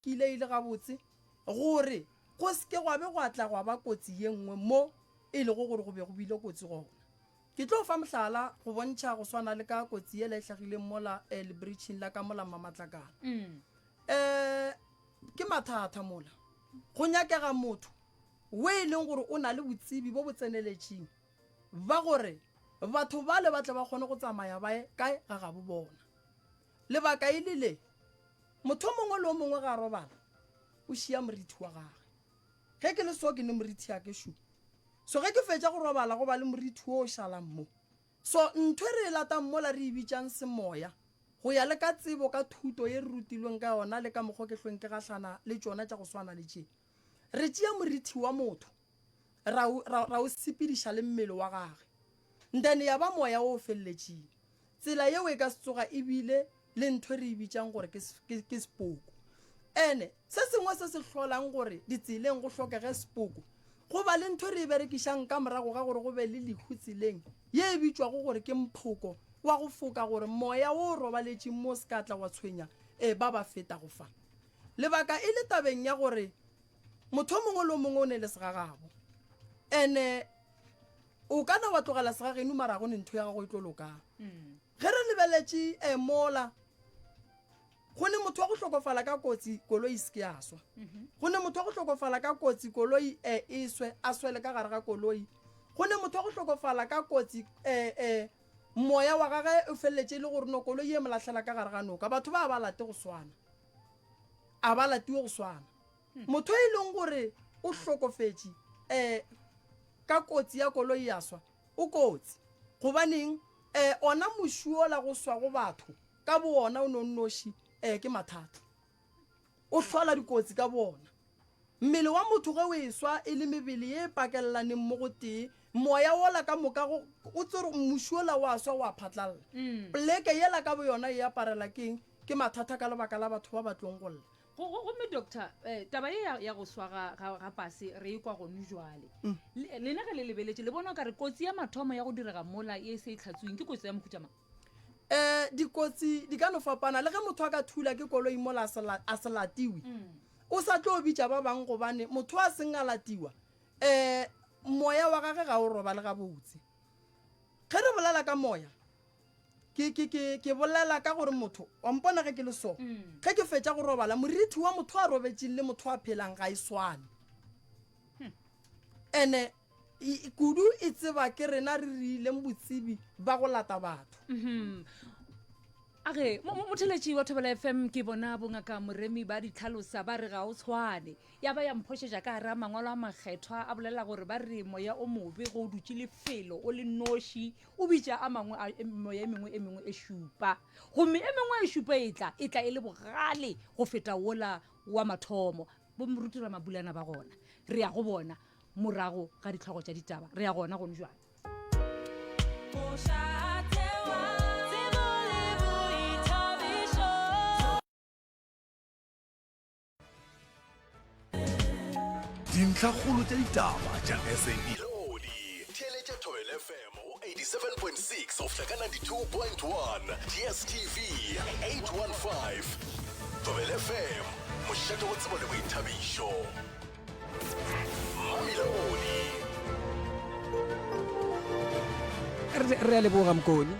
Ke ile ile gabotse gore go se ke gwa be gwa tla gwa ba kotsi ye nngwe mo e lego gore go be go bile kotsi gona. Ke tlo fa mohlala go bontšha go swana le ka kotsi yela e hlagileng mola eh, lebritšhing la ka mola Mmamatlakala. Mm. Eh, ke mathata mola go nyakega motho we e leng gore o na le botsebi bo bo tseneletšing ba gore batho bale ba tle ba kgone go tsamaya bae kae ga gabo bona Lebaka e le le, Motho o mongwe le o mongwe ge a robala, o šia morithi wa gage. Ge ke le so, ke ne morithi ya ke šo. So ge ke fetša go robala, go ba le morithi wo o šalang mo. So ntho e re e latang mola re e bitšang semoya, go ya le ka tsebo, ka thuto ye re rutilweng ka yona le ka mokgo ke hlweng ke gahlana le tšona tša go swana le tše. Re tšea morithi wa motho ra o, ra, ra o sepediša le mmele wa gage, then ya ba moya o feleletšeng. Tsela yeo e ka se tsoga e bile le ntho e re e bitšang gore ke, ke, ke sepoko. Ene se sengwe se se hlolang gore ditseleng go hlokege sepoko, go ba le ntho e re e berekišang ka morago ga gore go be le lehu tseleng, ye e bitšwago gore ke mphoko wa go foka gore moya wo o robaletšeng mo o se ka tla wa tshwenya e, ba ba fetago fa. Lebaka e le tabeng ya gore motho o mongwe le o mongwe o ne le segagabo. Ene o ka na wa tlogela segagenu mara go ne ntho ya gago e tlo lokang. Ge re lebeletše um mola go ne motho wa go hlokofala ka kotsi koloi e se ke ya swa. Go ne motho wa go hlokofala ka kotsi koloi um e swe, a swele ka gare ga koloi. Go ne motho wa go hlokofala ka kotsi um moya wa gage o feleletše e le gore no koloi e mo lahlela ka gare ga noka. Batho ba ba late go swana. a ba latiwe go swana motho e leng gore o hlokofetše um ka kotsi ya koloi ya swa o kotsi gobaneng um ona mošuola go swa go batho ka boona o nonnoši um ke mathata o hlola dikotsi ka boona Mmele wa motho ge o eswa e le mebele ye e pakelelanego mo go tee, moya wola ka moka go, o tsere gore mmuši wola wa swa wa phatlalela. Poleke yela ka boyona e aparela ke eng? Ke mathata ka lebaka la batho ba ba tlong go lla. Gomme, Doctor, taba ye ya, ya go swa ga, ga, ga pase re e kwa gonu jwale. Le, lena ge le lebeletše, le bona o ka re kotsi ya mathomo ya go direga mola ye e se e hlatsoeng ke kotsi ya mohuta mang? Ee, dikotsi di ka no fapana. Le ge motho a ka thula ke koloi mola a se, a se latiwe, O sa tlo bitša ba bang gobane motho a seng a latiwa, ee, moya wa gage ga o robale gabotse. Ge re bolela ka moya, ke, ke, ke, ke bolela ka gore motho, wa mpona ge ke le so, ge ke fetša go robala, morithi wa motho a robetšeng le motho a phelang ga e swane. Ene. I, kudu e tseba ke rena re riileng botsebi ba go lata batho Mhm. a ge mo- mo- motheletši wa thobela fm ke bona bongaka moremi ba di tlhalosa ba re ga o tshwane ya ba ya mphošetša ka gare a mangwalo a makgethwa a bolela gore ba re moya o mobe go o dutše lefelo o le noši o bitša a mangwe a e- moya e mengwe e mengwe e šupa gomme e mengwe e šupa e tla e tla e le bogale go feta wola wa mathomo bo moruti ramabulana ba gona re ya go bona morago ga ditlhogo tša ditaba re ya gona gone jwale dintlhakgolo tša ditaba tša sabc theeletša thobel fm go 87.6 go fihla ka 92.1 dstv 815 thobel fm mošate go tsebo le boithabišo re a leboga mokone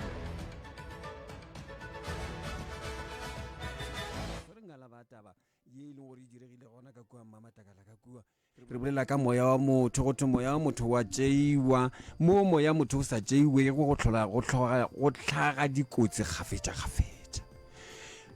re bolela ka moya wa motho go thwe moya wa motho wa tšeiwa mo moya motho o sa tšeiwego go tlhola go tlhoga go tlhaga dikotsi kgafetša kgafetša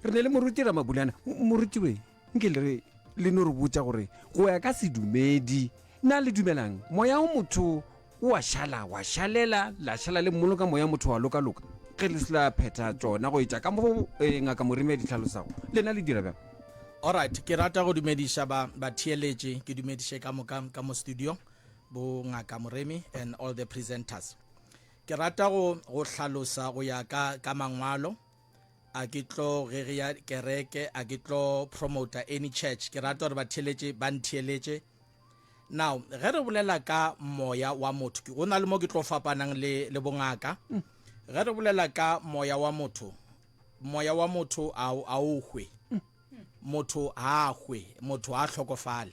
re ne le moruti ramabulana morutiweng Nke le re le no re botša gore go ya ka sedumedi na le dumelang moya o motho o a šala wa šalela la šala le mmolo ka moya motho wa loka loka ge le sela phetha tšona go etša ka mo eh, ngaka morime ya ditlhalosago lena le dira bjang Alright, ke rata go dumediša ba batheeletše ke dumediše ka moka ka mo studio bo ngaka moremi and all the presenters ke rata go go hlalosa go ya ka ka mangwalo a ke tlo rerea kereke a ke tlo promoter any church ke rata gore batheletše ba ntheeletše now ge re bolela ka moya wa motho go na le mo ke tlo fapanang le, le bongaka mm. ge re bolela ka moya wa motho moya wa motho a o hwe mm. motho a hwe motho a hlokofale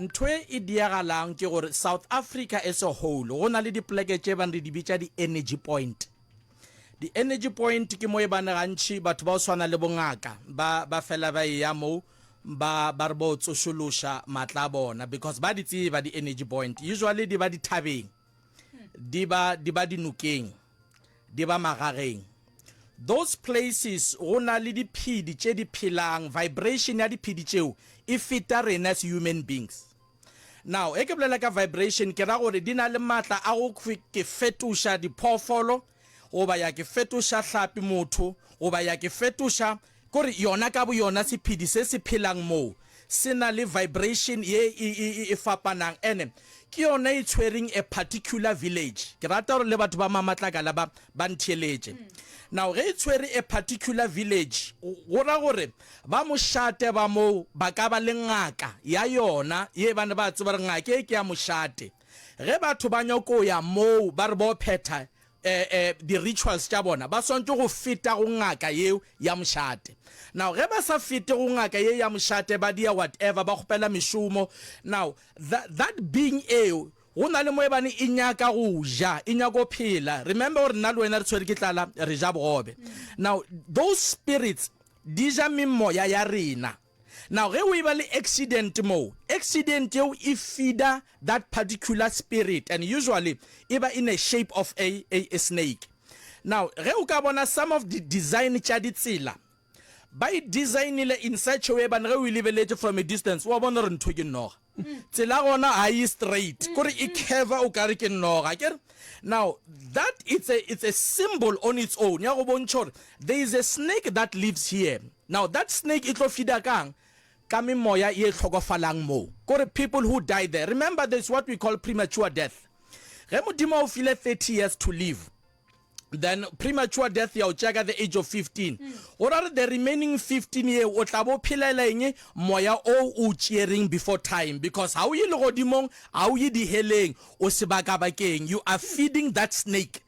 Ntho e e diagalang ke gore South Africa as a whole go na le dipoleke tše ebang re di bitša di-energy point. Di-energy point ke mo ebane gantši batho ba go swana le bongaka ba ba fela ba eya moo ba ba re bo tsošološa matla a bona because ba di tseba di-energy point. Usually di ba dithabeng, di ba di ba dinokeng. Di ba magageng. Those places go na le diphedi tše di phelang, vibration ya diphedi tšeo e feta rena as human beings. Now, ge ke bolela ka vibration, ke ra gore di na le matla a go ke fetoša diphoofolo, goba ya ke fetoša hlapi motho, goba ya ke fetoša Ke gore yona ka boyona sephedi se se phelang moo se na le vibration ye e, e, e, e fapanang ene ke yona e tshwereng a particular village. Ke rata gore le batho ba Mamatlakala ba, ba ntheeletše. Now ge e tshwere a particular village, go ra gore ba mošate ba moo ba ka ba le ngaka ya yona ye ba ne ba tseba gore ngaka ye ke ya mošate. Ge batho ba nyako ya moo ba re ba yo phetha eh, eh, di-rituals tša bona, ba swantšwe go feta go ngaka yeo ya mošate. Now, ge ba sa fete go ngaka ye ya mošate, ba dia whatever, ba kgopela mešomo. Now, that, that being eo, go na le mo e bane e nyaka go ja e nyaka go phela remember gore nna le wena re tshwere ke tlala re ja bogobe now those spirits di ja memoya ya rena Now ge o eba le accident moo, accident yeo e feeder that particular spirit and usually eba in a shape of a, a, a snake. Now ge o ka bona some of the design tša ditsela, ba e designile in such a way ebane ge o e lebeletše from a distance wa bona gore ntho ke noga. Tsela gona ga e straight, kore e curva o kare ke noga. Akere? Now, that it's a, it's a symbol on its own, ya go bontšha gore there is a snake that lives here. Now, that snake e tlo feeder kang? Ka memoya ye hlokofalang moo. Kore people who die there. Remember, there's what we call premature death. Ge Modimo a o file 30 years to live, then premature death ya o tšea ka the age of 15 mm. go ra re the remaining 15 ye o tla bo phelela eng moya o o tšeereng before time because ha o ye legodimong ha o ye diheleng o sebaka bakeng you are feeding that snake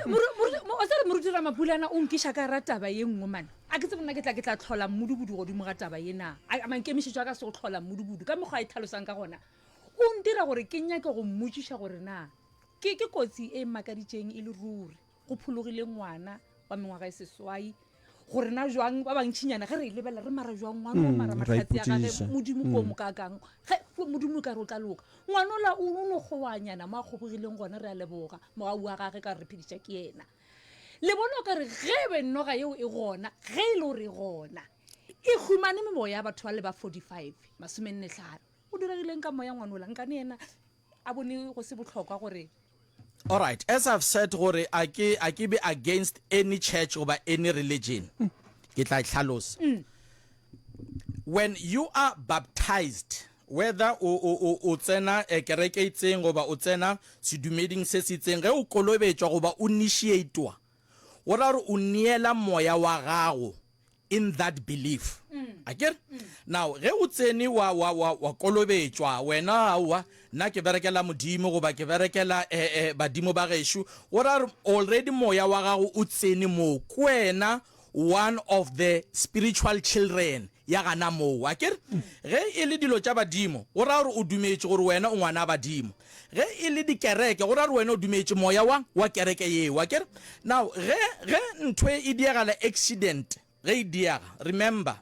morutere moruti ramapulana o nkiša ka ra taba ye nngwe mane a ke tse bona ke tla ke tla tlhola mmudubudu godimo ga taba ye na mankemišetso a ka se go tlhola mmudubudu ka mekgwa a e tlhalosang ka gona o ntira gore ke nyake go mmotšiša gore na Ke, ke kotsi e makaditšeng e le ruri. Go phologile ngwana wa mengwaga e seswai. Go rena jwang ba bangtšinyana ge re e lebelela, re mara jwang ngwana o mara mahlatse a gage, Modimo ko mokaakang. Ge, fo, Modimo o ka re o tla loka. Ngwana ola o, o no kgoanyana mo a kgobogileng gona, re a leboga mogau wa gage ka re phediša ke yena. Le bona o ka re ge e be noga yeo e gona, ge e le gore e gona, e humane memoya ya batho ba le ba 45, masomenne tlhano, go diregileng ka moya ngwana ola? Nkane yena, A bone go se bohlokwa gore. Alright, as I've said gore a ke a ke be against any church goba any religion. Ke tla e hlalosa. When you are baptized, whether o o o o tsena eh, kereke e itseng goba o tsena sedumeding se se itseng, ge o kolobetšwa goba o initiatwa, go ra gore o neela moya wa gago in that belief akere now ge o tsene wa wa wa wa kolobetšwa wena aowa nna ke berekela modimo goba ke berekela eh, eh, badimo ba gešo o ra re already moya wa gago o tsene moo ke wena one of the spiritual children ya gana moo akere ge e le dilo tša badimo go raya gore o dumetše gore wena o ngwana a badimo Ge e le dikereke, go ra gore wena o dumetše moya wa, wa kereke yeo. Akere? Now, ge, ge nthwe e diagala, accident, ge e diaga, remember,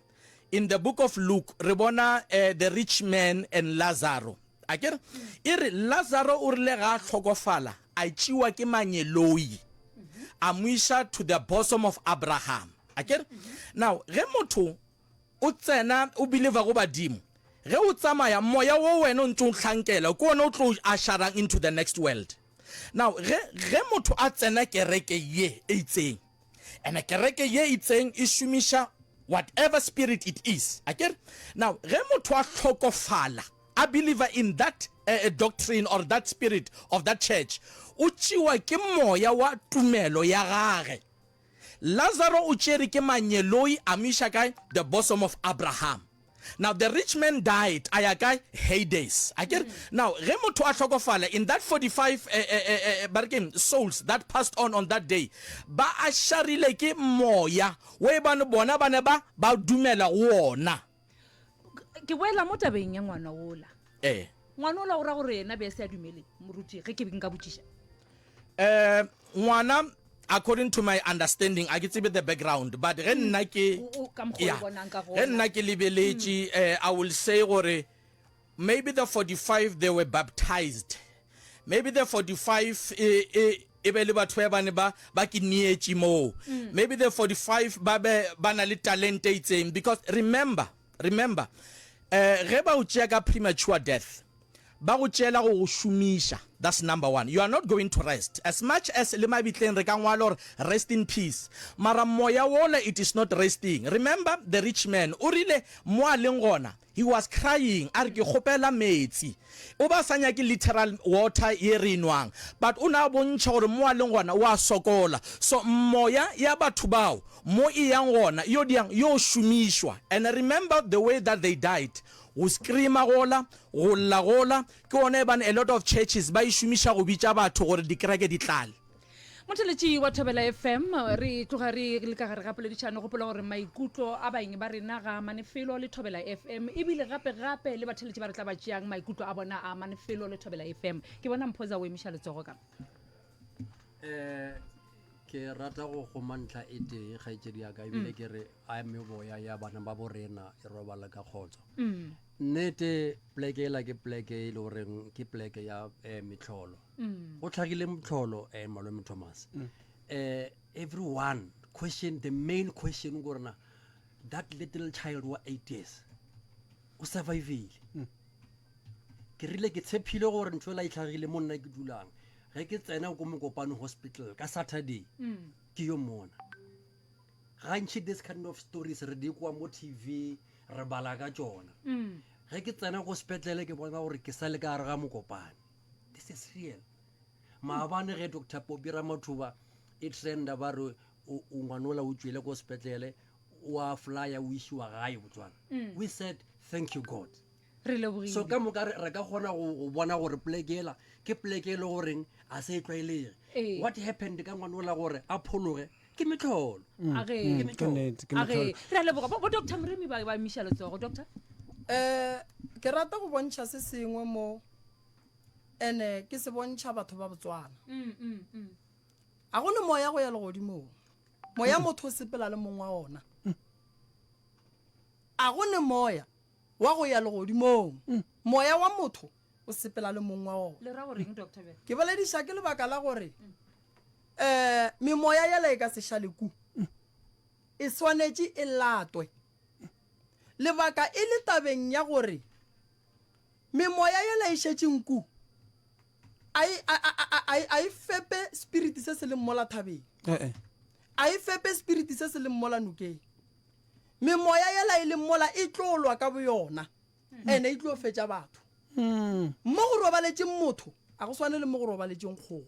in the book of Luke, re bona, eh, the rich man and Lazaro. Akere? E re, Lazaro o rile ga a hlokofala, a tšiwa ke manyeloi, a mo iša to the bosom of Abraham. Akere? Now, ge motho, O tsena, o believer go badimo. Ge o tsamaya, moya wo wena o ntse o hlankela, ke ona o tlo usherang into the next world. Now, ge, ge motho a tsena kereke ye e itseng, and kereke ye e itseng e šomiša whatever spirit it is, akere? Now, ge motho a hlokofala, a believer in that a, a doctrine or that spirit of that church, o tšewa ke moya wa tumelo ya gage. Lazaro o tšere ke manyeloi a mo iša kae? The bosom of Abraham. Now the rich man died, a ya kae? Hades. A ke re? Now ge motho a hlokofala, in that 45 eh, eh, eh, eh, ba re keng, souls that passed on on that day, ba a šarile ke moya wo e bane bona ba ne ba, ba dumela go wona. ke boela mo tabeng ya ngwana ola ee ngwana ola o ra gore yena be a se a dumele moruti ge ke be nka botšiša um ngwana according to my understanding a ke tsebe the background but ge mm. nna ke ge nna ke lebeletše um i will say gore Maybe the 45 they were baptized, maybe the 45 e, e, e be le batho ba bane ba ba ke nietše moo mm. maybe the 45 ba be ba na le talente e itseng because remember remember eh ge ba o tšea ka premature death ba go tšela go go šomiša that's number one you are not going to rest as much as le mabitleng re ka ngwala gore rest in peace mara moya wola it is not resting remember the rich man o rile mo a leng gona He was crying a re ke kgopela metsi. O be a sa nyake literal water ye re e nwang, but o ne a bontšha gore mo a leng gona o a sokola. So moya ya batho bao mo e yang gona e yo dirang? E yo šomišwa. And remember the way that they died, go screamer gola, go lla gola, ke gona ebane a lot of churches ba e šomiša go bitša batho gore dikereke di tlale. Motheletši wa Thobela FM, re tloga re le ka gare ga poledišano. Gopola gore maikutlo a baeng ba rena ga amane felo le Thobela FM, ebile gape gape le batheletši ba re tla ba tšeang maikutlo a bona a amane felo le Thobela FM. Ke bona Mphoza o emiša letsogo ka. Eh, ke rata go goma ntlha e tee kgaetšedi yaka ebile ke re a meboya ya bana ba bo rena e robala ka kgotso nnete pleke ela ke pleke e le goreng ke pleke ya um metlholo mm. go tlhagile motlholo um eh, malome thomas um mm. eh, everyone question the main question gorena that little child wa eight years o survivile mm. ke rile ke tshephile gore ntho ela e tlhagile mo nna ke dulang ge ke tsena ko mokopano hospital ka saturday mm. ke yo mona gantšhi this kind of stories re di kwa mo tv re bala ka tsona mm. ge ke tsena go sepetlele ke bona gore ke sa le ka gare ga mokopane this is real maabane ge doctor popi ramathuba e trenda ba re ngwanola o tšwele ko sepetlele wa flya o isiwa gae botswana mm. we said thank you god so ka moka re ka kgona go bona gore plekela ke pleke e le goreng a se e tlwaelege ee. what happened ka ngwanola gore a phologe ke metlholo mm, mm, re leboga bo doctor moremi ba emiša letsogo doctor um ke rata go bontšha se sengwe mo ene ke se bontšha batho ba botswana mm, mm, mm. a go ne moya go ya legodimong moya motho o sepela le mong wa ona a go ne moya wa go ya legodimong moya wa motho o sepela le mong wa ona ke bolediša ke lebaka la gore um memoya yela e ka sešaleku e swanetše e latwe lebaka e le tabeng ya gore Memoya yela e šetše nku, a e, a, a, a, a, a e fepe spiriti se se leng mola thabeng, Eh, eh. a e fepe spiriti se se leng mola nokeng. Memoya yela e leng mola e tlo lwa ka boyona, ene e tlo fetša batho. Mm. Mo go robaletšeng motho a go swane le mo go robaletšeng kgogo.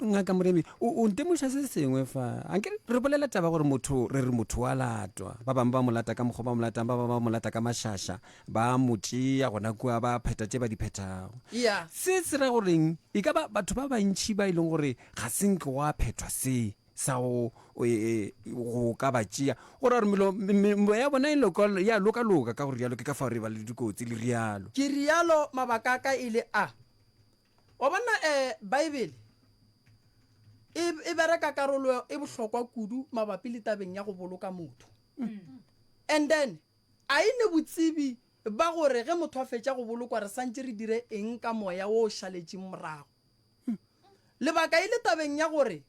ngaka moremi o ntemoša se sengwe fa anke re bolela taba gore motho re re motho wa latwa ba bangwe ba mo lata ka mokgwa ba mo latang ba bangwe ba mo lata ka mašaša ba mo tšea gona kua ba pheta tše ba di phethago se se ra goreng e ka ba batho ba bantšhi ba e leng gore ga se nke wa phethwa se sa go e, e, go ka ba tšea go ra gore melo ya bona e ya lokaloka ka gore rialo ke ka fao re ba le dikotsi le rialo ke rialo mabaka a ka e le a Wa bona um Baebele e, e bereka karolo e bohlokwa kudu mabapi le tabeng ya go boloka motho. And then a e ne botsebi ba gore ge motho a fetša go bolokwa re santše re dire eng ka moya wo o šaletšeng morago. Lebaka e le tabeng ya gore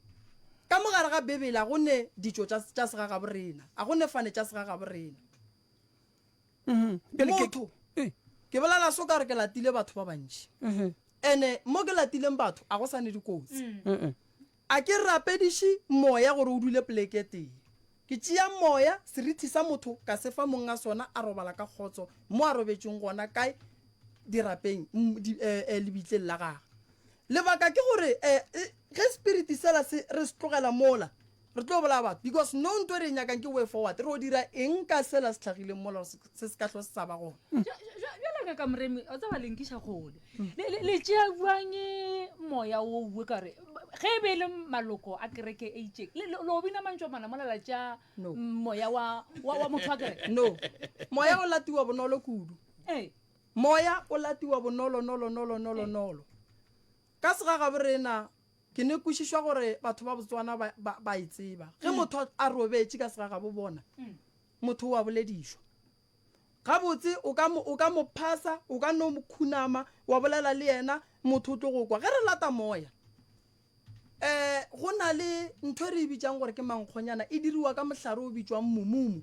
ka mo gare ga Bibele a go ne ditšo tša, tša segagaborena, a go ne fane tša segagaborena. mhm. motho eh. ke bolela so ka re ke latile batho ba bantši mhm. ene mo ke latileng batho a go sane dikotsi mm. a ke rapediše moya gore o dule poleke tee ke tšea moya serithi sa motho ka sefa mong a sona a robala ka kgotso mo a robetseng gona kae dirapeng mm, eh, eh, lebitleng la gage lebaka ke gore ge spirit sela se re se tlogela mola Re tlo bolaya batho because no nto e re e nyakang ke way forward. Re o dira eng ka sela se tlhagileng mola gore se- se se ka hlo se sa ba gona? Bja- bja- bjalo ka ka moremi o tseba lenkiša kgole Le- le le tšea bjang moya wo uwe ka gore ba- ge e be e le maloko a kereke e itšeng le- le le o bina mantšwa mana mola la tšea No. mm, moya wa wa- wa motho wa kereke No. Moya o latiwa bonolo kudu. ee Moya o latiwa bonolo nolo nolo nolo nolo. Ka segagaborena Ke ne kwešišwa gore batho ba Botswana ba, ba, ba e tseba. Ge motho a robetše ka segagabo bona, motho o a boledišwa. Gabotse o ka mo, o ka mo phasa, o ka no mo khunama, wa bolela le yena, motho o tlo go kwa. Ge re lata moya, um go na le ntho e re e bitšang gore ke mankgonyana, e diriwa ka mohlare o bitšwang mumumu.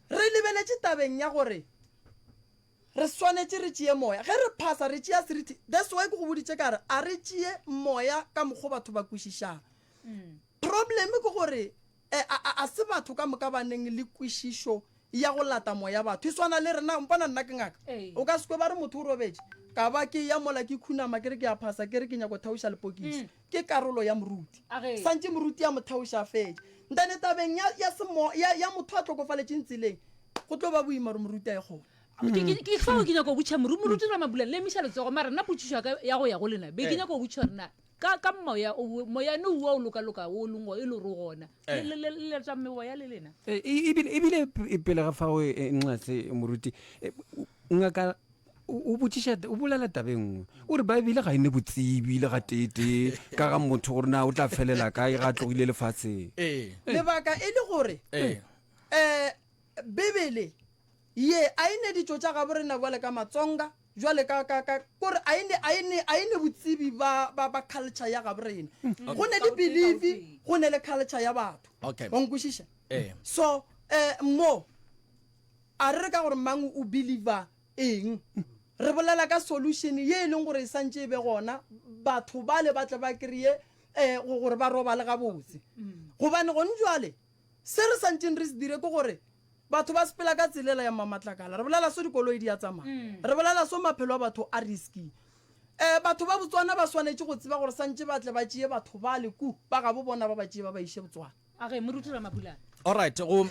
Re lebeletše tabeng ya gore re swanetše re tšee Moya. Ge re phasa, re tšea seriti. That's why ke go boditše ka re a re tšee Moya ka mokgo batho ba kwešišago. Problem ke gore a se batho ka moka ba neng le kwešišo ya go lata Moya. Batho e swana le rena. Mpona nna ke ngaka. O ka se kwe ba re motho o robetše, ka ba ke eya mola ke khunama ke re ke a phasa ke re ke nyako thaoša lepokisi. ke karolo ya moruti. Santši moruti a mo theoša a fetša. Nthane tabeng ya, ya semo, ya, ya motho a hlokofaletšeng tseleng, go tlo ba boima gore moruti a ye kgole. Ke, ke, ke fao ke nyaka go botša moru, Moruti Ramabulana, le emiša letsogo, mara nna potšišo ya ka ya go ya go lena, be ke nyaka go botša gore na ka, ka moya o, moyane wo o lokaloka wo o leng go, e le gore o gona, le, le, le, le leta meoya le lena? E, e, ebile, ebile pele ga fao, e, e, Nxase, moruti, e, Ngaka o botšiša o bolela tabe nngwe o re baebele ga e ne botsebi le ga teetee ka ga motho gore na o tla felela kae ga a tlogile lefatsheng ee. lebaka e le gore ee. um bebele ye a e ne ditšo tša gabo rena bjale ka matsonga jwale ka ka ka kore a ene a ene a ene botsebi ba ba ba culture ya gabo rena hmm. go ne le believe go ne le culture ya batho okay. o nkwešiša eh. so eh, mo A re re ka gore mang o believer eng, re bolela ka solution ye e leng gore e santše e be gona, batho bale ba tle ba kreye um gore ba robale gabotse. Gobane gone jwale se re santšeng re se dire ke gore batho ba sepela ka tselela ya mmamatlakala, re bolela so dikoloi di a tsamaya, re bolela so maphelo a batho a risky. Um batho ba Botswana ba swanetše go tseba gore santše ba tle ba tšeye batho bale ku ba gabo bona ba ba tšeye ba ba iše Botswana. A re moruti Ramabulana. All right, go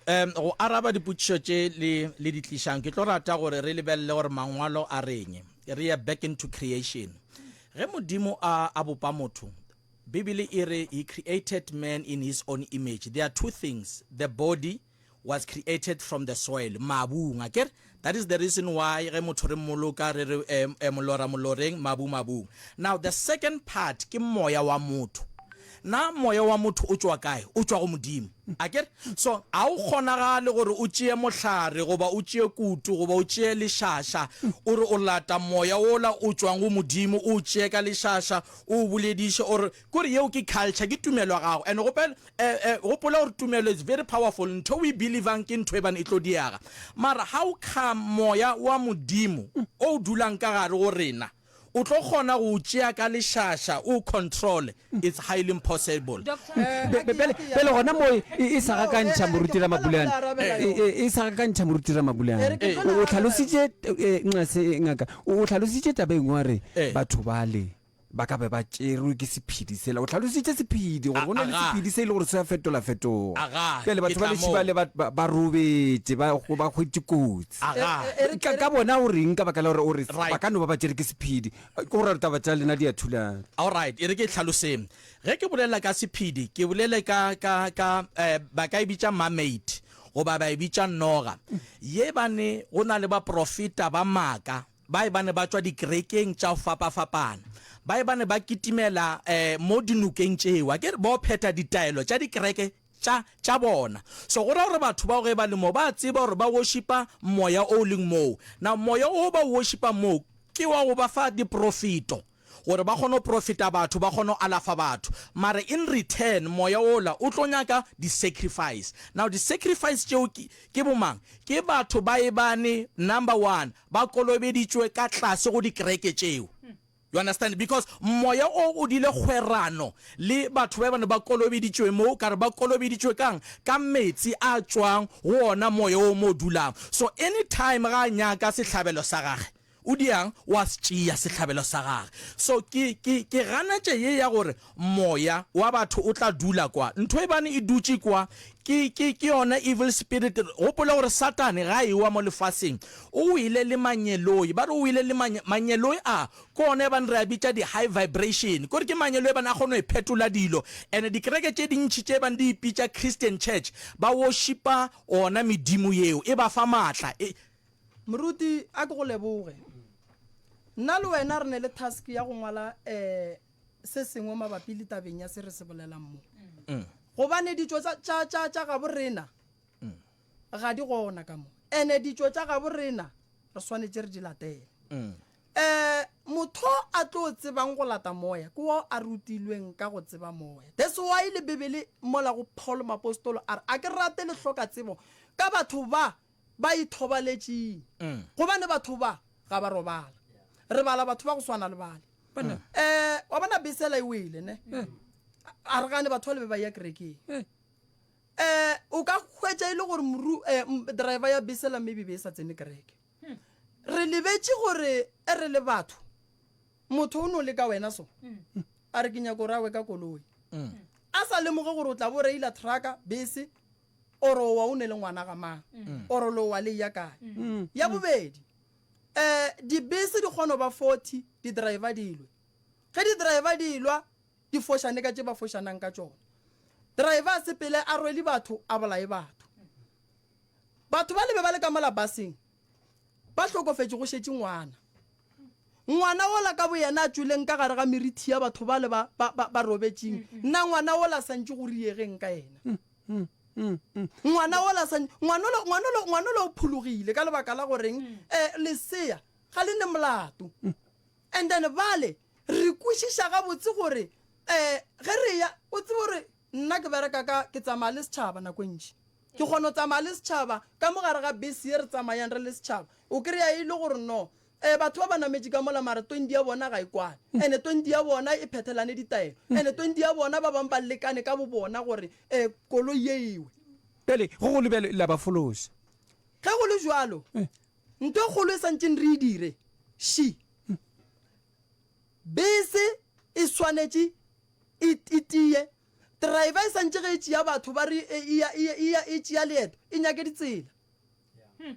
um go araba dipotšišo tše le le di tlišang ke tlo rata gore re lebelele gore mangwalo a reng re ye back into creation ge modimo a a bopa motho bibele e re he created man in his own image there are two things the body was created from the soil, mabung, aker? That is the reason why ge motho re mmoloka re re um, um, molora moloreng, mabu mabung. Now the second part ke moya wa motho. Na moya wa motho o tšwa kae? O tšwa go Modimo, aker? So ga o kgonagale gore o tšee mohlare goba o tšee kutu goba o tšee lešaša o re o lata moya wola o tšwang go Modimo o o tšee ka lešaša o o bolediše o re Kore yeo ke culture, ke tumelo ya gago and gopel e e gopola gore tumelo it's very powerful, ntho o e believang ke ntho eban e tlo diega. Mara ha o kga moya wa Modimo o o dulang ka gare go rena, o tlo kgona go o tšea ka lešaša o o controle, it's highly impossible. Be, be, bjale, bjale gona moo e, e sa gakantšha Moruti Ramabulana, e, e, e sa gakantšha Moruti Ramabulana. O, o hlalositše, eh, nxa se, ngaka, o, o hlalositše taba e nngwe wa re, Eh. batho bale. ba ka be ba tšerwe ke sephedi sela o tlhalositše sephedi gore go na le sephedi se e le gore se a fetolafetoga pele batho ba lešhiba le ba robetše ba kgwetše kotsi e re ka bona o reng ka baka la gore o re ba ka no ba ba tšere ke sephedi go ra taba tša lena di a thulana allright e re ke tlhaloseng ge ke bolela ka sephedi ke bolele ka eh, ba ka e bitša mamate goba ba e bitša noga ye bane go na le baprofeta ba maaka Bae ba ne ba tšwa dikerekeng tša go fapafapana. Bae ba ne ba kitimela mo dinokeng tšeo, akere, bao phetha ditaelo tša dikereke tša, tša bona. So go ra gore batho bao ge ba le moo, ba a tseba gore ba worshipa moya o o leng moo. Now, moya o ba o worshipang moo ke wa go ba fa diporofeto. gore ba kgone go profeta batho, ba kgone go alafa batho, mara in return moya wola o tlo nyaka di sacrifice. Now di sacrifice tšeo ke, ke bo mang? Ke batho ba ebane, number one, ba kolobeditšwe ka tlase go dikereke tšeo. You understand? Because moya o o dile kgwerano le batho ba ebane ba kolobeditšwe mo, ka re ba kolobeditšwe ka'ng? Ka metsi a tšwang go ona moya o mo dulang. So any time ga a nyaka sehlabelo sa gage, O diang, o a se tšea sehlabelo sa gage. So, ke, ke, ke ganetše ye ya gore moya wa batho o tla dula kwa. Ntho e bane e dutše kwa, ke, ke, ke yona evil spirit. Gopola gore Satane ga a ewa mo lefaseng, o wele le mangeloi. Ba re o wele le mange, mangeloi a, ke ona e bane re a bitša di-high vibration. Kore ke mangeloi e bane a kgona go phetola dilo. And dikereke tše dintši tše bane di ipitša Christian Church, ba worshipa ona medimo yeo, e ba fa maatla. E, Moruti a ke go leboge. Nna le wena re ne le task ya go ngwala eh se sengwe mabapi le tabeng ya se re se bolelang mo. Mm. Gobane ditšo tsa tša tša tša gabo rena mm. ga di gona ka mo. Ene ditšo tša gabo rena re swanetse re di latele. Mm. Eh motho a tlo tsebang go lata moya ke wa a rutilweng ka go tseba moya. That's why le Bibele mola go Paul mapostolo a re a ke rate le hloka tsebo ka batho ba ba ithobaletšeng gobane batho ba ga ba robala re bala batho ba go swana le bale um wa bona besela e wele ne a re gane batho ba le be ba ya kerekeng um o ka hwetša e le gore moru um driver ya besela maybe be e sa tsene kereke re lebetše gore e re le batho motho o ne o le ka wena so a re ke nyako rawe ka koloi a sa lemoge gore o tla bo reila trucka bese oro owa o ne le ngwana ga mang mm. oro lo wa le ya kae mm. ya bobedi eh dibese di kgono ba 40 di driver dilwe ge di driver dilwa di foshane ka tse ba foshanang ka tsone driver se pele a rwele batho a bolae batho batho ba lebe ba le ka mola baseng ba hlokofetse go shetse ngwana ngwana ola ka boyena a tsweleng ka gare ga merithi ya batho ba le ba robetseng mm, mm. nna ngwana ola santse go riegeng ka ena mm. ngwana ola sa ngwanolo ngwanolo ngwanolo o phulugile ka lebaka la goreng eh lesea ga le ne molato and then bale re kwešiša ga botse gore eh ge re ya o tsebe gore nna ke bereka ka ke tsamaya le setšhaba nako e ntši ke kgona go tsamaya le setšhaba ka mogare ga bese ye re tsamayang re le setšhaba o kry-a e le gore no Ee, batho ba ba nametše ka mola, mara tondi ya bona ga e kwane. Ene tondi ya bona e phethelane ditaelo. Ene tondi ya bona ba bangwe ba lekane ka bobona gore e, koloi ye e we. Bjale, go golo bjalo la ba fološa. Ge go le bjalo, ntho e kgolo e santšeng re e dire, še bese e swanetše e, e tiye. Driver e santše ge e tšea batho ba re e, e ya, e ya, e ya, e tšea leeto, e nyake ditsela. Hmm.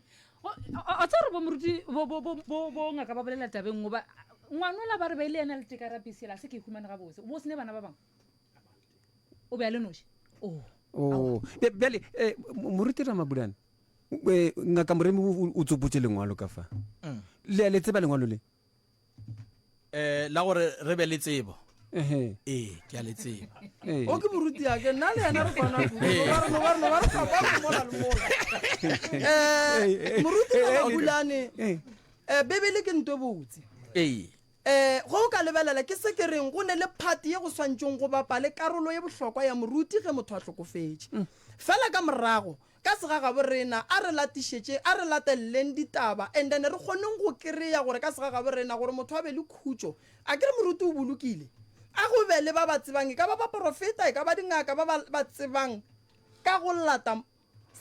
a tsa gore bomoruti bo ngaka ba bolela tabeng goba ngwana ola ba re ba ile ena le tekarapesela se ke humane ga bose bo sene bana ba bangwe o be a le noši oh. oh. bjale eh, moruti ra mabulane eh, ngaka moremi o tsopotse lengwalo ka fa mm. le a le tseba lengwalo le eh la gore re be le tsebo ee ke a le tseba o ke moruti ya ke nna le yena re kwana moruti babulane um bebele ke nto botse ee um go o ka lebelela ke se ke reng go ne le phati ye go swantšeng go bapale karolo ye bohlokwa ya moruti ge motho a hlokofetše fela ka morago Ka segagabo rena, a re latišetšeng, a re lateleleng ditaba, and then re kgoneng go kry-a gore ka segagabo rena gore motho a be le khutšo. A ke re moruti o bolokile? A go be le ba ba tsebang, e ka ba baporofeta, e ka ba dingaka, ba ba ba tsebang ka go lata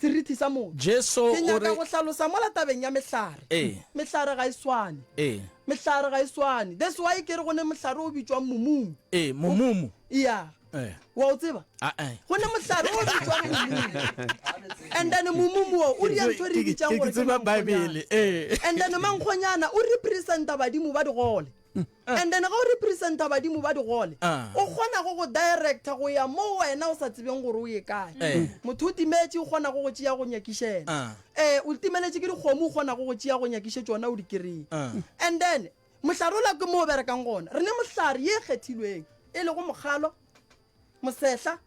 serithi sa motho. Jesu Ke o nyaka re. go hlalosa mola tabeng ya mehlare. Ee. Mehlare ga e swane. Ee. Mehlare ga e swane. That's why ke re go ne mohlare o bitšwang momumu. Ee, momumu. Yeah. eh. wa o tseba ah, eh. go ne mohlare o bitswang momumu and then momumu o o ria ntho re bitsang gore tseba bibele eh. and then mankgonyana o representa badimo ba digole mm. ah. and then ga o representa badimo ba digole ah. o kgona go go directa go ya mo wena o sa tsebeng gore o ye kae eh. motho o timetse o kgona go go tšea go nyakišela um o timeletse ke dikgomo o kgona go go tšea go nyakiše tsona o di kry and then Mohlarola ke mo o berekang gona. Re ne mohlare ye e kgethilweng, e lego mokgalo, mosehla,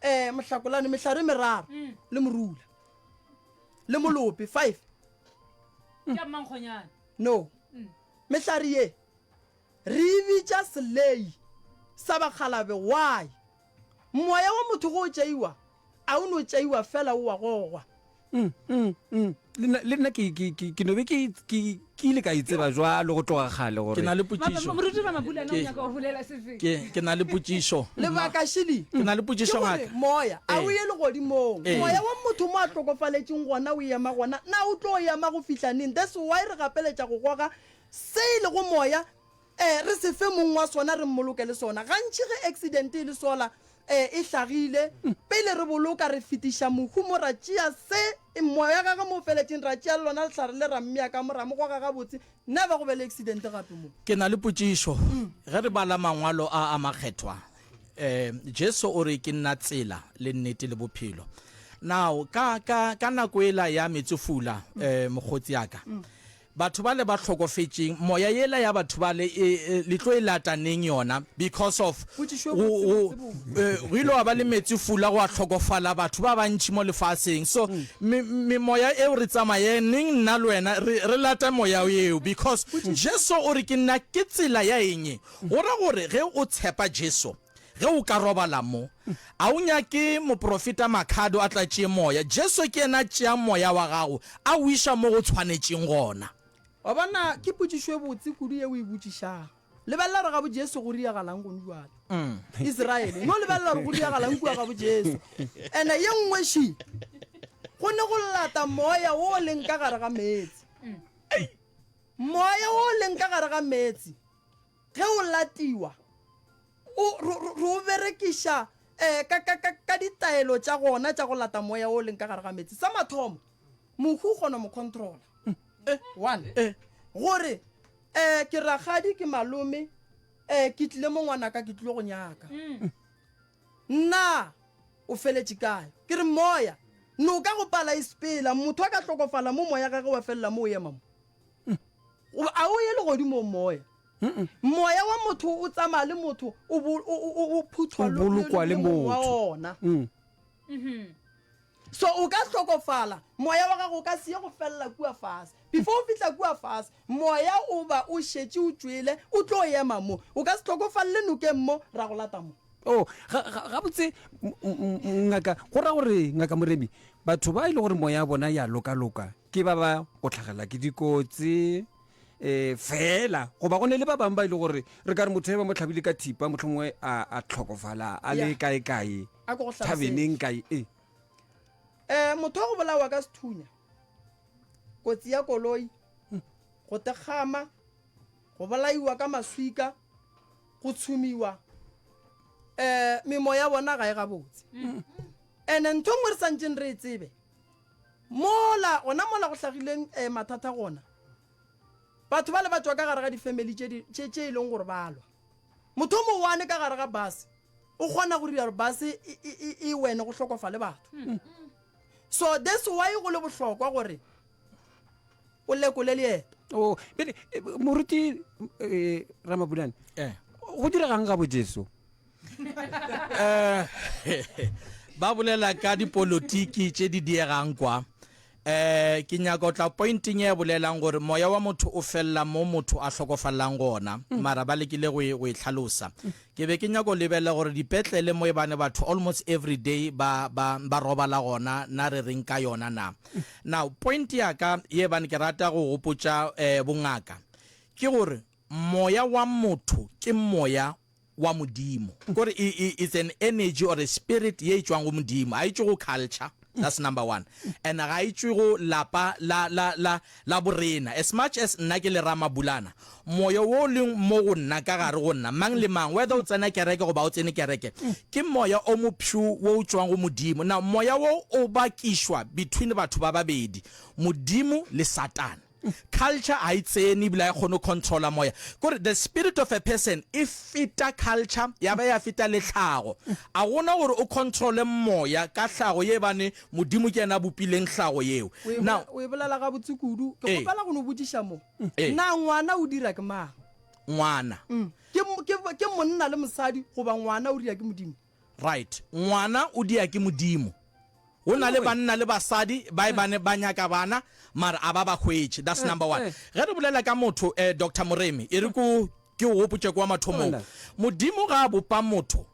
um, mohlakolane, mehlare e meraro, le morula, le molope, five. Ke a mmankgonyana. No. Mehlare ye re e bitša selei sa bakgalabe. Why? Moya wa motho go o tšeiwa, a o no tšeiwa fela o wa gogwa. Mm, mm, mm. Le nna- Le nna ke- ke ke- ke no be ke ke- ke ile ka e tseba jwalo go tloga kgale ke na gore le potšišo Moruti Ramabulana o Ke- nyaka go bolela se fe? ke ke na le potšišo Lebaka Shili. Ke na le potšišo Ke gore ngaka. moya a o Ee. ye legodimong. Ee. Moya wa motho mo a hlokofaletšeng gona o ema gona. Na o tlo ema go fihla neng? That's why re gapeletša go goga se e lego moya Ee, re se fe mong wa sona re mmoloke le sona. Gantši ge aksidente e le sola e e hlagile, pele re boloka re fetiša mohu mo ra tšea se e moya wa gagwe mo o feletšeng, ra tšea le lona lehlare le ra mmea ka mo, ra mo goga gabotse, never go be le aksidente gape mo. Ke na le potšišo. Ge re bala Mangwalo a a Makgethwa, um Jesu o re, Ke nna tsela le nnete le bophelo. Now, ka, ka, ka nako ela ya metsofula, um mokgotsi ya ka, Batho bale ba hlokofetšeng moya yela ya batho bale e le tlo e lata neng yona because of go go go ile wa ba le metsi fula go a hlokofala batho ba bantši mo lefaseng so me me moya eo re tsamaye neng nna le wena re re lata moya eo because Jesu o re ke nna ke tsela ya eng go ra gore ge o tshepa Jesu Ge o ka robala mo, a o nyake moprofeta Makhado a tlatše moya? Jesu ke yena a tšeang moya wa gago a o iša mo go tshwanetšeng gona. Wa bona, ke potšišo e botse kudu ye o e botšišago. Lebelela gore gabo Jesu go diragalang gone bjale. Israele e no lebelela gore go diragalang kua gabo Jesu. And-e ye nngwe ši, go ne go lata moya wo o leng ka gare ga meetse. Moya wo o leng ka gare ga meetse. Ge o latiwa, o, re, re, re o berekiša eh, ka, ka, ka, ka ditaelo tša gona tša go lata moya wo o leng ka gare ga meetse. Sa mathomo, mohu o kgona go mo controla. Eh, one. Eh. Gore, eh, ke rakgadi, ke malome, eh, ke tlile mo ngwanaka, ke tlilo go nyaka. Na o feletše kae? Ke re moya, noka go pala e sepela, motho a ka hlokofala mo moya gage wa felela mo o ema mo. a o ye legodimo moya moya wa motho o tsamaya le motho o phuthwa le mong wa ona mm. mm-hmm. so o ka hlokofala moya wa gago o ka seye go felela kua fase before o fitlha kua fase moya o ba o šetše o tšwele o tlo ema mo o ka se tlhokofalele nokeng mo ra go lata mo Oh, ga- ga- gabotse m- m- m- ngaka go ra gore ngaka moremi batho ba e le gore moya ya bona ya lokaloka ke ba ba go tlhagelela ke dikotsi um fela goba go ne le ba bangwe ba e le gore re ka re motho e ba mo tlhabile ka thipa motlho mongwe a a tlhokofala a le Yeah. kae-kae a ko go tlhalosetse. thabeneng kae e um motho wa go bolawa ka sethunya kotsi ya koloi go tekgama Go bolaiwa ka maswika, go tshumiwa, um memoya ya bona ga e gabotse. And-e ntho nngwe re santseng re e tsebe, mola gona mola go hlagileng um mathata gona, batho ba le ba tšwa ka gare ga di-family tše e leng gore ba lwa. Motho o mowane ka gare ga base o kgona go dira gore base e wene go hlokofale batho. So that's why go le bohlokwa gore o lekole leeto. Oh, bele eh, moruti eh, Ramabulane. Eh. Go diregang ga bojeso? Eh. Ba bolela ka dipolotiki tše di diegang kwa. Eh ke nyaka o tla pointing e bolelang gore moya wa motho o fella mo motho a hlokofallang gona mm. mara ba lekile go e, go e tlhalosa Ke be ke nyaka go lebelela gore dipetlele mo ebane batho almost everyday ba, ba, ba robala gona, na re reng ka yona na? Now, point ya ka ye ebane ke rata go gopotša eh, bongaka, ke gore moya wa motho ke moya wa Modimo. Kore i, i, it's an energy or a spirit ye e tšwang go Modimo, ga e tšwe go culture. that's number one and ga e tšwe go lapa la, la, la, la borena as much as nna ke le ramabulana moyo wo o leng mo go nna ka gare go nna mang le mang whether o tsena kereke goba o tsene kereke ke moya o mopshu wo o tšwang go modimo na moya wo o bakišwa between batho ba babedi modimo le satane Culture ga e tsene ebile ga e kgone go controla moya. Ke gore the spirit of a person e feta culture ya ba ya feta le tlhago. A gona gore o controle moya ka tlhago ye bane Modimo ke yena a bopileng tlhago yeo. Now, O e bolela gabotse kudu. Ke Ee. kgopela go no botšiša mo. Ee. Na ngwana o dira ke mang? ngwana. Ke, ke, ke monna le mosadi goba ngwana o dira ke Modimo? Right. Ngwana o dia ke Modimo. Go na le banna le basadi ba e bane ba nyaka bana mare a ba ba hwetše. That's number one. Ge re bolela ka motho, eh, Doctor Moremi, e re ko ke o gopotše kwa mathomong. Modimo ga a bopa motho,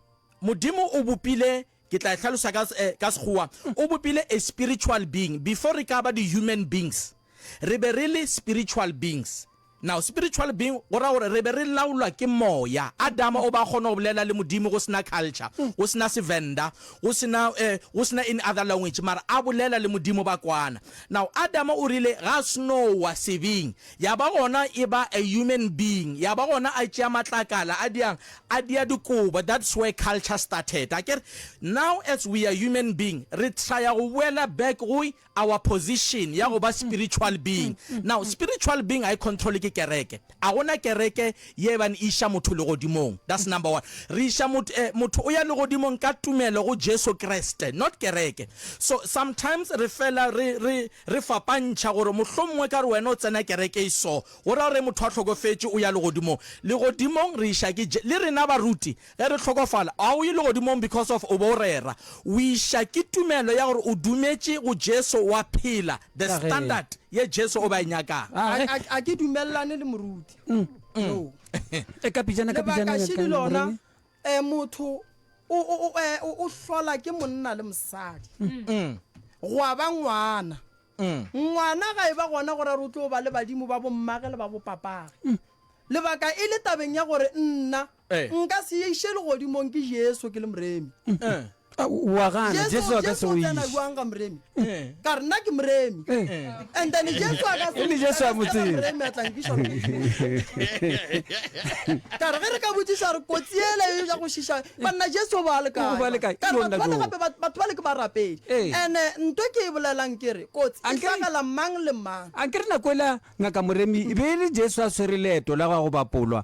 Modimo o bopile, ke tla e hlalosa ka, eh, ka Sekgowa, o bopile a spiritual being. Before re ka ba di-human beings, re be re le spiritual beings. Now, spiritual being go ra gore re be re laolwa ke moya. Adama o ba a kgona go bolela le Modimo go se na culture, go se na Sevenda, go se na, eh, go se na any other language, mara a bolela le Modimo ba kwana. Now, Adama o rile ga a seno wa sebing, ya ba gona e ba a human being, ya ba gona a tšea matlakala a diang, a dia dikobo, that's where culture started. Akere? Now as we are human being, re traya go boela back go our position ya go ba spiritual being. Now, spiritual being ga e controle ke kereke. A go na kereke ye e bane e iša motho legodimong. That's number one. Re iša motho, eh, motho o ya legodimong ka tumelo go Jesu Kriste, not kereke. So, sometimes re fela re, re, re fapantšha gore mohlomongwe e ka re wena o tsena kereke e so, go ra gore ge motho a hlokofetše o ya legodimong. Legodimong re iša ke Je, le rena baruti Ge re hlokofala, ga o ye legodimong because of o be o rera. O iša ke tumelo ya gore o dumetše go Jesu wa phela the standard ye Jesu o be a e nyakago. A ke dumelelane le moruti yo. Lebaka šidi lona, motho o hlola ke monna le mosadi gwa ba ngwana. Ngwana ga e ba gona gore a re o tlo ba le badimo ba bommage le ba bopapage. Lebaka e le tabeng ya gore nna Nka se ye iše legodimong ke Jesu ke le moremi. Wa gana Jesu a ka se go iše. Jesu o tsena jwang ga moremi? Ka re nna ke moremi. And then Jesu a ka se go iše ka moremi a tla nkiša legodimong. Ka re ge re ka botšiša re kotsi yela ya go šiša banna Jesu ba le kae? Ka re batho bale gape batho bale ke barapedi. And nto ke e bolelang ke re kotsi e hlagela mang le mang. Ankere nako yela Ngaka Moremi e be e le Jesu a swere leeto la go ya go bapolwa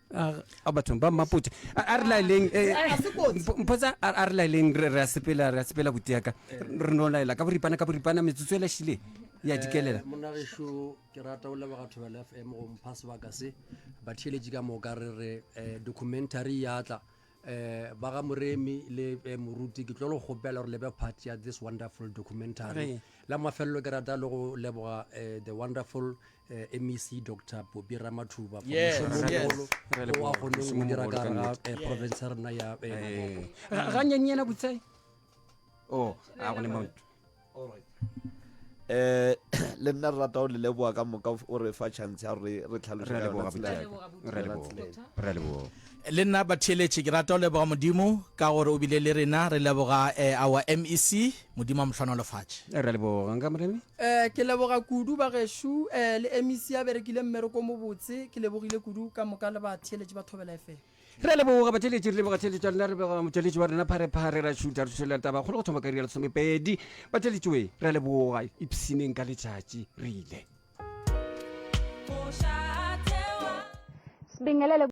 a bathong ba mmapotse a re laeleng eh, eh, mpotsa a re laeleng re a sepela re a sepela buti yaka re no laela ka boripana ka boripana metsotso e lašile ya dikelela eh, monagešo ke rata o leboga thobela f m go mpha sebaka se batheeletši ka moka re re documentary ya tla eh ba ga moremi le eh, moruti ke tlo le gopela gore lebe part ya this wonderful documentary Re. la mafelelo ke rata le go leboga eh, the wonderful eh, mec dr bobi ramathuba for Yes, mošomo o yes. mogolo Re leboga, o a goneng mošomo o o dira mogolo ka ka gare ga nnete. eh, province ya rena ya eh, Limpopo. Eh, Ga- ganyanyeena botsai oh a go le mo All right. Eh le nna re rata go le leboga ka moka o re fa chance ya gore re tlhaloše Re a ka leboga yona tsela ya Botšaki. ka. Re a Yona leboga. tsela ya ka. Re a leboga. le nna batheeletše ke rata go leboga modimo ka gore o bile le rena re leboga eh, our mec modimo a mohlwana o lefatše Re a leboga nka moremi. Eh, ke leboga kudu ba gešo eh, le mec ya berekile mmereko mobotse ke lebogile kudu ka moka le batheeletši ba thobela fm Re a leboga batšweletši, re leboga tšheletšo ya lena, re leboga motšweletši wa rena Pharephare ra šutha re thušelela taba kgolo go thoma ka iri ya lesomepedi. Batšweletši we, re a leboga, ipshineng ka letšatši, re ile. Sibingelele.